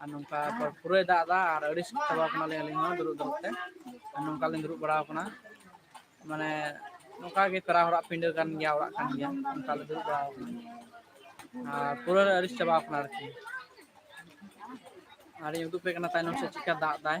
ᱟᱨ ᱱᱚᱝᱠᱟ ᱯᱩᱨᱟᱹᱭ ᱫᱟᱜ ᱮᱫᱟ ᱟᱨ ᱟᱹᱰᱤ ᱪᱟᱵᱟ ᱠᱟᱱᱟᱞᱤᱧ ᱟᱹᱞᱤᱧ ᱦᱚᱸ ᱫᱩᱲᱩᱵ ᱫᱩᱲᱩᱵ ᱛᱮ ᱟᱨ ᱱᱚᱝᱠᱟᱞᱤᱧ ᱫᱩᱲᱩᱵ ᱵᱟᱲᱟ ᱟᱠᱟᱱᱟ ᱢᱟᱱᱮ ᱱᱚᱝᱠᱟ ᱜᱮ ᱯᱮᱲᱟ ᱦᱚᱲᱟᱜ ᱯᱤᱸᱰᱟᱹ ᱠᱟᱱ ᱜᱮᱭᱟ ᱚᱲᱟᱜ ᱠᱟᱱ ᱜᱮᱭᱟ ᱚᱱᱠᱟ ᱞᱮ ᱫᱩᱲᱩᱵ ᱵᱟᱲᱟ ᱟᱠᱟᱱᱟ ᱟᱨ ᱯᱩᱨᱟᱹ ᱞᱮ ᱟᱹᱲᱤᱥ ᱪᱟᱵᱟ ᱟᱠᱟᱱᱟ ᱟᱨᱠᱤ ᱟᱨᱤᱧ ᱩᱫᱩᱜ ᱟᱯᱮ ᱠᱟᱱᱟ ᱛᱟᱭᱱᱚᱢ ᱥᱮᱫ ᱪᱮᱫᱠᱟ ᱫᱟᱜ ᱮᱫᱟᱭ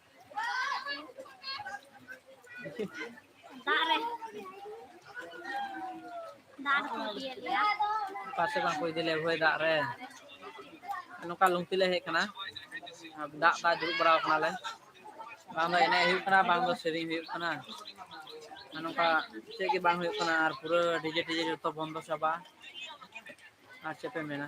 ᱫᱟᱜ ᱨᱮ ᱫᱟᱜ ᱨᱮᱠᱚ ᱤᱫᱤᱭᱮᱫ ᱞᱮᱭᱟ ᱚᱠᱟ ᱥᱮᱫ ᱵᱟᱝᱠᱚ ᱤᱫᱤ ᱞᱮᱭᱟ ᱦᱚᱭ ᱫᱟᱜ ᱨᱮ ᱱᱚᱝᱠᱟ ᱞᱩᱝᱛᱤ ᱞᱮ ᱦᱮᱡ ᱠᱟᱱᱟ ᱫᱟᱜ ᱫᱟᱜ ᱫᱩᱲᱩᱵ ᱵᱟᱲᱟ ᱠᱟᱱᱟᱞᱮ ᱵᱟᱝ ᱫᱚ ᱮᱱᱮᱡ ᱦᱩᱭᱩᱜ ᱠᱟᱱᱟ ᱵᱟᱝ ᱫᱚ ᱥᱮᱨᱮᱧ ᱦᱩᱭᱩᱜ ᱠᱟᱱᱟ ᱟᱨ ᱱᱚᱝᱠᱟ ᱪᱮᱫ ᱜᱮ ᱵᱟᱝ ᱦᱩᱭᱩᱜ ᱠᱟᱱᱟ ᱟᱨ ᱯᱩᱨᱟᱹ ᱰᱤᱡᱮ ᱰᱤᱡᱮ ᱡᱚᱛᱚ ᱵᱚᱱᱫᱚ ᱪᱟᱵᱟ ᱟᱨ ᱪᱮᱫ ᱯᱮ ᱢᱮᱱᱟ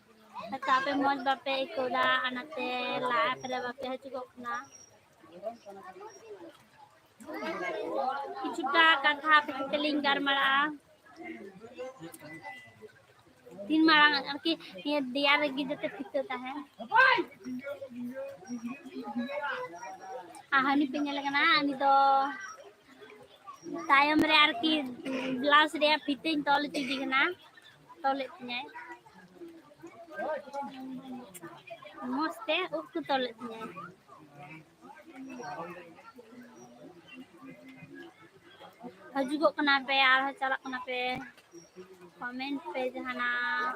ᱟᱪᱪᱷᱟ ᱟᱯᱮ ᱢᱚᱸᱡᱽ ᱵᱟᱯᱮ ᱟᱹᱭᱠᱟᱹᱣ ᱫᱟ ᱚᱱᱟᱛᱮ ᱞᱟᱦᱟ ᱯᱷᱮᱨᱮ ᱵᱟᱯᱮ ᱦᱤᱡᱩᱜᱚᱜ ᱠᱟᱱᱟ᱾ ᱠᱤᱪᱷᱩᱴᱟ ᱠᱟᱛᱷᱟ ᱟᱯᱮ ᱥᱟᱛᱮ ᱞᱤᱧ ᱜᱟᱞᱢᱟᱨᱟᱜᱼᱟ᱾ ᱛᱤᱱ ᱢᱟᱨᱟᱝ ᱟᱨᱠᱤ ᱱᱤᱭᱟᱹ ᱫᱮᱭᱟ ᱨᱮᱜᱮ ᱡᱟᱛᱮ ᱯᱷᱤᱛᱟᱹ ᱛᱟᱦᱮᱱ᱾ ᱟᱨ ᱦᱟᱹᱱᱤ ᱯᱮ ᱧᱮᱞᱮ ᱠᱟᱱᱟ ᱩᱱᱤ ᱫᱚ ᱛᱟᱭᱚᱢ ᱨᱮ ᱟᱨᱠᱤ ᱵᱞᱟᱣᱩᱥ ᱨᱮᱭᱟᱜ ᱯᱷᱤᱛᱟᱹᱧ ᱛᱚᱞ ᱦᱚᱪᱚᱭᱮᱫᱮ ᱠᱟᱱᱟ᱾ ᱛᱚᱞ ᱮᱫ ᱛᱤᱧᱟᱭ ᱢᱚᱡᱽ ᱛᱮ ᱩᱵ ᱠᱚ ᱛᱚᱞ ᱮᱫ ᱛᱤᱧᱟᱭ ᱦᱤᱡᱩᱜᱚᱜ ᱠᱟᱱᱟ ᱯᱮ ᱟᱨᱦᱚᱸ ᱪᱟᱞᱟᱜ ᱠᱟᱱᱟ ᱯᱮ ᱠᱚᱢᱮᱱᱴ ᱯᱮ ᱡᱟᱦᱟᱱᱟᱜ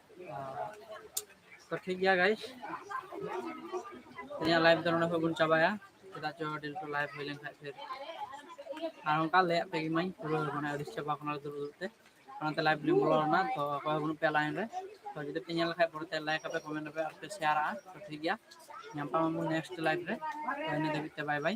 ᱛᱚ ᱴᱷᱤᱠ ᱜᱮᱭᱟ ᱜᱟᱭᱤᱥ ᱤᱧᱟᱹᱜ ᱞᱟᱭᱤᱵᱷ ᱫᱚ ᱱᱚᱰᱮ ᱠᱷᱚᱱ ᱵᱚᱱ ᱪᱟᱵᱟᱭᱟ ᱪᱮᱫᱟᱜ ᱪᱚ ᱰᱮᱞ ᱴᱩ ᱞᱟᱭᱤᱵᱷ ᱦᱩᱭ ᱞᱮᱱᱠᱷᱟᱡ ᱯᱷᱤᱨ ᱟᱨ ᱚᱱᱠᱟ ᱞᱟᱹᱭᱟᱫ ᱯᱮ ᱜᱮᱢᱟᱹᱧ ᱯᱩᱨᱟᱹ ᱢᱟᱱᱮ ᱟᱹᱰᱤ ᱪᱟᱵᱟ ᱠᱟᱱᱟ ᱫᱩᱲᱩᱵ ᱫᱩᱲᱩᱵ ᱛᱮ ᱚᱱᱟᱛᱮ ᱞᱟᱭᱤᱵᱷ ᱞᱤᱧ ᱵᱚᱞᱚ ᱞᱮᱱᱟ ᱛᱚ ᱚᱠᱚᱭ ᱦᱚᱸ ᱵᱟᱹᱱᱩᱜ ᱯᱮᱭᱟ ᱞᱟᱭᱤᱱ ᱨᱮ ᱛᱚ ᱡᱩᱫᱤ ᱯᱮ ᱧᱮᱞ ᱞᱮᱠᱷᱟᱡ ᱯᱚᱨᱮᱛᱮ ᱞᱟᱭᱤᱠ ᱟᱯᱮ ᱠᱚᱢᱮᱱᱴ ᱟᱯᱮ ᱟᱨ ᱯᱮ ᱥᱮᱭᱟᱨᱟᱜᱼᱟ ᱛᱚ ᱴᱷᱤᱠ ᱜᱮᱭᱟ ᱧᱟᱯᱟᱢ ᱟᱵᱚᱱ ᱱᱮᱠᱥᱴ ᱞᱟᱭᱤᱵᱷ ᱨᱮ ᱛᱚ ᱤᱱᱟᱹ ᱫᱷᱟᱹᱵᱤᱡ ᱛᱮ ᱵᱟᱭ ᱵᱟᱭ